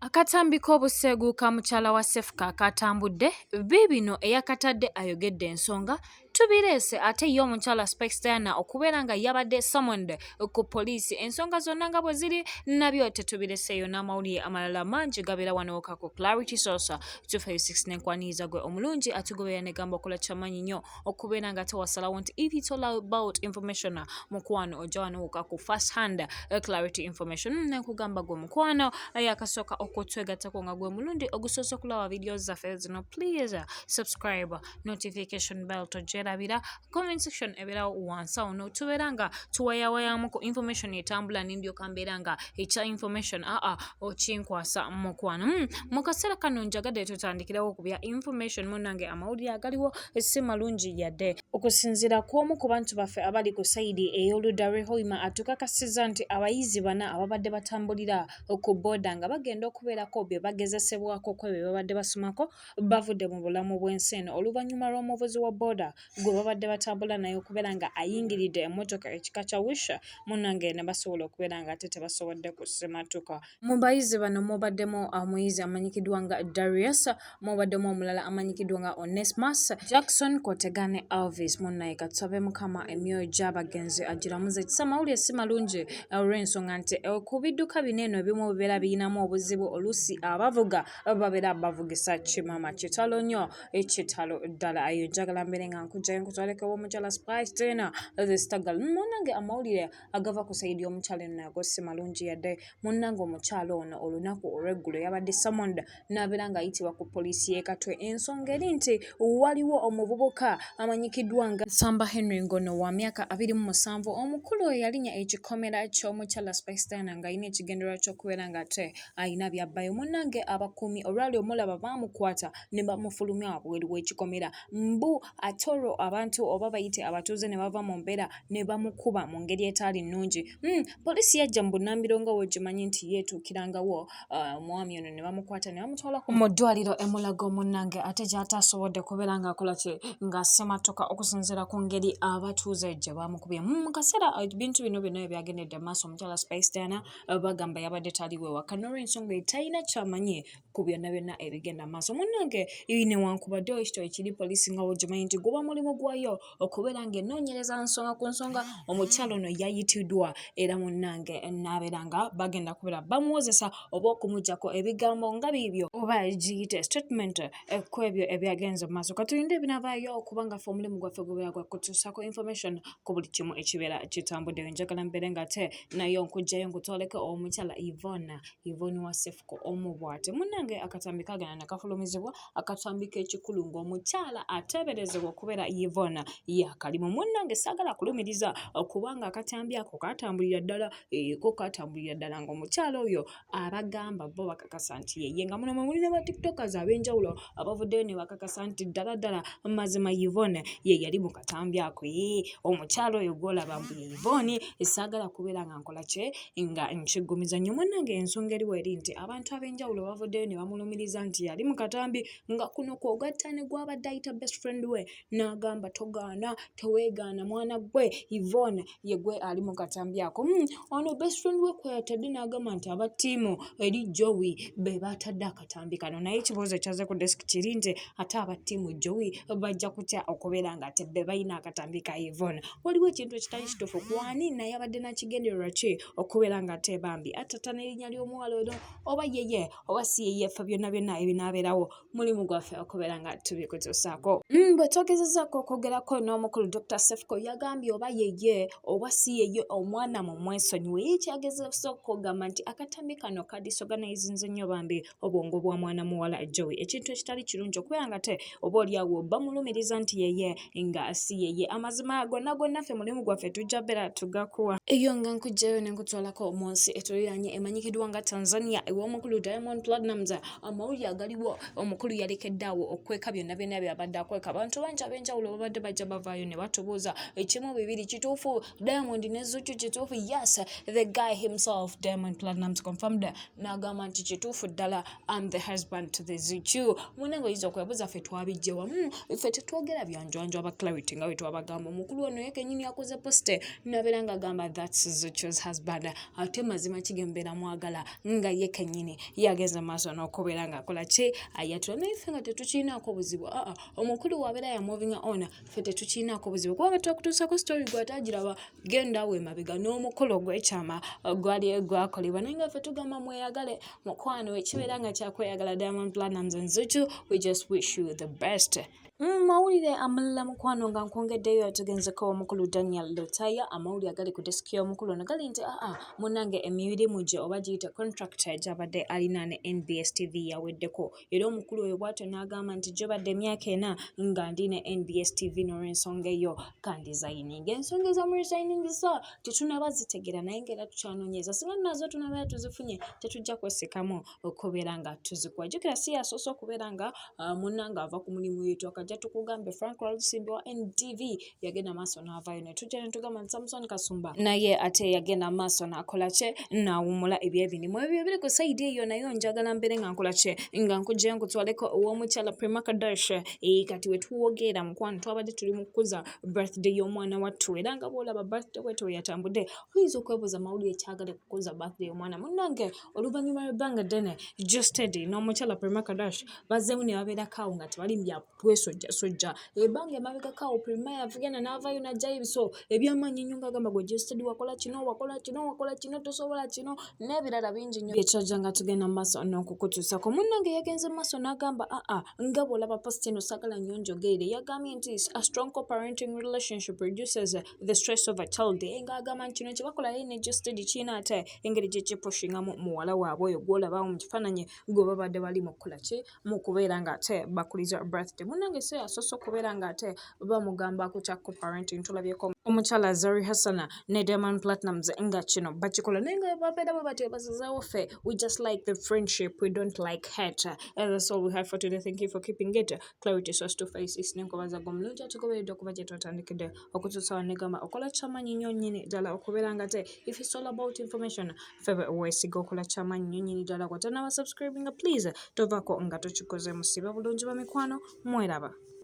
Akatambi k'obuseegu ka mukyala wa Sefuka akaatambudde, biibino eyakatadde ayogedde ensonga, Tubireese ate ye omukyala Spice Diana okubeera nga yabadde summoned ku poliisi ensonga zonna nga bwe ziri nabyo tetubireseeyo n'amawulire amalala mangi gabeera wano woka ku Clarity Source 256 n'enkwaniriza gwe omulungi atugoberera ne gamba okola kyamanyi nnyo okubeera nga tewasalawo nti if it's all about information mukwano ojja wanowoka ku first hand eh, clarity information mm, nekugamba gwe mukwano eh, yakasooka okutwegattako nga gwe mulundi ogusoose okulaba video zaffe zino please subscribe notification bell tojerabira comment section ebeerawo wansi awo notubeera nga tuwayawayamu ku information etambula nendyoka mbeera nga ekya information aa ah, okinkwasa mukwano mm, mu kaseera kano njagadde tutandikirawo ku bya information munange amawulire agaliwo si malungi yadde. Okusinziira ku omu ku bantu baffe abali ku sayidi ey'oludda lw'e Hoima atukakasizza nti abayizi bana ababadde batambulira ku boda nga bagenda okubeerako bye bagezesebwako ku ebyo bye babadde basomako bavudde mu bulamu bw'ensi eno oluvannyuma lw'omuvuzi wa boda gwe babadde batambula naye okubeera nga ayingiridde emmotoka ekika kya wisha munnange ne basobola okubeera nga ate tebasobodde kusimatuka. Mu bayizi bano mubaddemu omuyizi uh, amanyikiddwa nga Darius, mubaddemu omulala amanyikiddwa nga Onesmus Jackson Kotega ne Elvis Munnaye. Katusabe Mukama emyoyo gy'abagenzi agiramuze kisa. Amawulire si malungi uh, olw'ensonga nti uh, ku bidduka bino eno ebimu bibeera birinamu obuzibu oluusi abavuga babeera bavugisa kimama. Kitalo nnyo, kitalo ddala. Ayo njagala mbeere nga nkujjayo nkutwaleko omukyala Spice Tena the Stagal. Munange amawulire agava ku sayidi y'omukyala eno nago si malungi yadde. Munnange omukyala ono olunaku olw'eggulo yabadde summoned n'abeera ng'ayitibwa ku poliisi y'e Katwe. Ensonga eri nti waliwo omuvubuka amanyikiddwa nga Nsamba Henry ng'ono wa myaka abiri mu musanvu omukulu eyalinya ekikomera ky'omukyala Spice Diana ng'alina ekigendererwa ky'okubeera ng'ate alina by'abbayo. Munnange abakuumi olwali omulaba baamukwata ne bamufulumya wabweru w'ekikomera mbu ate olwo abantu oba bayite abatuuze ne bava mu mbeera ne bamukuba mu ngeri etaali nnungi hmm, poliisi yajja mu bunnambiro nga wogimanyi nti yeetuukirangawo uh, omwami ono ne bamukwata ne bamutwala mu ddwaliro emulago munnange ate gy'ataasobodde kubeera ng'akola kye nga sematoka okusinziira ku ngeri abatuuze gye bamukubye hmm, mu kaseera uh, ebintu bino byonna ebyagendedde maaso omukyala spice diana uh, bagamba yabadde taliwo ewaka n'olwensonga etalina kyamanyi ku byonna byonna ebigenda mu maaso munnange newankubadde ekito ekiri poliisi nga wogimanyi nti guba mulimu gwayo okubeera ng'enoonyereza nsonga ku nsonga omukyalo ono yayitiddwa era munnange naabeera nga bagenda kubeera bamuwozesa oba okumugyako ebigambo nga biibyo oba giyite statement eh, ku ebyo ebyagenze mu maaso katulinde ebinabaayo okubanga fe omulimu gwaffe gubeera gwa kutuusako information ku buli kimu ekibeera kitambuddeyo njagala mbeere nga te naye onkugjayo nkutwaleko omukyala ivona ivoni wasefu omu bwati munnange akatambi kagenda ne kafulumizibwa akatambi k'ekikulu ng'omukyala ateeberezebwa okubeera yvona yakalimu munnange saagala kulumiriza kubanga akatambi ako katambulira ddala eko eh, katambulira ddala ng'omukyala oyo abagamba bo bakakasa nti yeye nga muno mwe muli ne batiktokers ab'enjawulo abavuddeyo ne bakakasa nti ddala ddala mazima yvona ye yali mu katambi ako ye eh, omukyala oyo gwolaba mbu yvoni esaagala kubeera nga nkola kye nga nkiggumiza nnyo munnange ensonga eriwo eri nti abantu ab'enjawulo bavuddeyo ne bamulumiriza nti yali mu katambi nga kuno kwogatta ne gwabadde ayita best friend we n'agamba togaana teweegaana mwana gwe yvonne ye gwe ali mu katambi ako hmm, ono best friend we kweyatadde n'agamba nti aba ttiimu eri jowi be batadde akatambi kano naye ekibuuzo kyaze ku desk kiri nti ate aba ttiimu jowi bajja kutya okubeera nga ate be balina akatambi ka ivon waliwo ekintu ekitali kituufu kwani naye abadde nakigendererwa ki okubeera nga ate bambi atata n'erinnya ly'omuwala ono oba yeye oba si yeye ffe byonna byonna ebinaabeerawo mulimu gwaffe okubeera nga tubikutuusaako mm, bwe twogezezaako okwogerako n'omukulu dr sefco yagambye oba yeye oba si yeye omwana mu mwesonyiwe ye kyagezesa okugamba nti akatambi kano nga disorganize nze nnyo bambi obwongo bwa mwana muwala jowi ekintu ekitali kirungi okubeera nga te oba oliawo bamulumiriza nti yeye nga si yeye amazima gonna gonna ffe mulimu gwaffe tujja beera tugakuwa eyo nga nkujjayo ne nkutwalako mu nsi etuliraanye emanyikiddwa nga tanzania ew'omukulu diamond platinums amawulire agaliwo omukulu yalekeddaawo okweka byonna byonna byabadde akweka abantu bangi ab'enjawulo babadde bajja bavaayo ne batubuuza ekimu bibiri kituufu diamond ne zuchu kituufu yes the guy himself diamond platinums confirmed n'agamba nti kituufu ddala am the husband to the zuchu muna nga oyinza okwebuuza ffe twabijje wamu ffe tetwogera byanjwanjwa aba clarity nga wetwabagamba omukulu ono yekenyini yakoze poste nabeera nga agamba thats zuchus husband ate mazima kigembeera mwagala nga yekenyini yageze maaso n'okubeera ngaakola ki ayatula naye ffe nga tetukiinaako buzibu aa omukulu wabeera yamovinga ona ffe tetukiinaako buzibu kubanga twakutuusako sitori gwe atagiraba genda we mabega n'omukolo ogw'ekyama uh, gwali gwakolebwa naye nga ffe tugamba mweyagale mukwano ekibeera nga kyakweyagala diamond planams and zuchu we just wish you the best Mm, mawulire amulala mukwano nga nkwongeddeyo yatugenzeko omukulu daniel lotaya amawulire agali ku desiki y'omukulu ono gali nti aa munange emirimu gye oba giyite contract gyabadde alina ne nbs tv yaweddeko era omukulu oyo bwatyo n'agamba nti gyobadde emyaka ena nga ndi ne nbs tv n'olwensonga eyo kandizayininga ensonga ezamurizayiningisa tetunaba zitegera naye nga era tukyanonyeza singa nazo tunabera tuzifunye tetujja kwesikamu okubeera nga tuzikuwa jukira si yasoose okubeera nga ah, munanga ava ku mulimu yetu akajja tukugambe frank lwalusimbi wa ntv yagenda maaso n'avaayo ne tujja ne tugamba nti samusoni kasumba naye ate yagenda maaso n'akola kye n'awummula ebyebinimu ebyo ebiri ku sayidi eyo nayo njagala mbeere nga nkola kye nga nkugye nkutwaleko ow'omukyala prima kadash ee eh, kati we tuwogeera mukwano twabadde tuli mu kukuza birthday y'omwana wattu era nga bw'olaba birthday wetwe yatambudde oyinza okwebuuza mawulire ekyagala okukuza birthday y'omwana munnange oluvannyuma lw'ebbanga ddene justedi n'omukyala prima kadash bazzeemu ne babeerako awo nga tebali mu byapu twesojjasojja. Ebbanga emabegako awo Prima yavugenda n'avaayo n'aggyayo ebiso eby'amaanyi ennyo ng'agamba gwe Jested wakola kino wakola kino wakola kino tosobola kino n'ebirala bingi nnyo bye kyajja nga tugenda mu maaso n'okukutuusako. Munnange yagenze mu maaso n'agamba aa nga bw'olaba posita eno saagala nnyo njogeere yagambye nti a strong co-parenting relationship reduces the stress of a child ng'agamba nti kino kye bakola ye ne Jested kirina ate engeri gye kipushingamu muwala waabwe oyo gw'olaba awo mu kifaananyi gwe babadde bali mu kukola ki? mu kubeera ng'ate bakuliza birthday munnange so yasoose okubeera ng'ate bamugamba ku kya coparenting tulabyeko omukyala zari hassana ne diamond platinums nga kino bakikola naye nga babeera bwe batyo bazizeewo ffe we just like the friendship we don't like hat and that's all we have for today thank you for keeping it clarity source to face is nenkobaza gwe omulungi atugoberedde okuba gye twatandikidde okutuusawo negamba okola kyamanyi nnyo nnyini ddala okubeera ngate if it's all about information febe owesiga okola kyamanyi nyo nyini ddala gwatanaba subscribinga please tovako nga tukikoze musibe bulungi bamikwano mweraba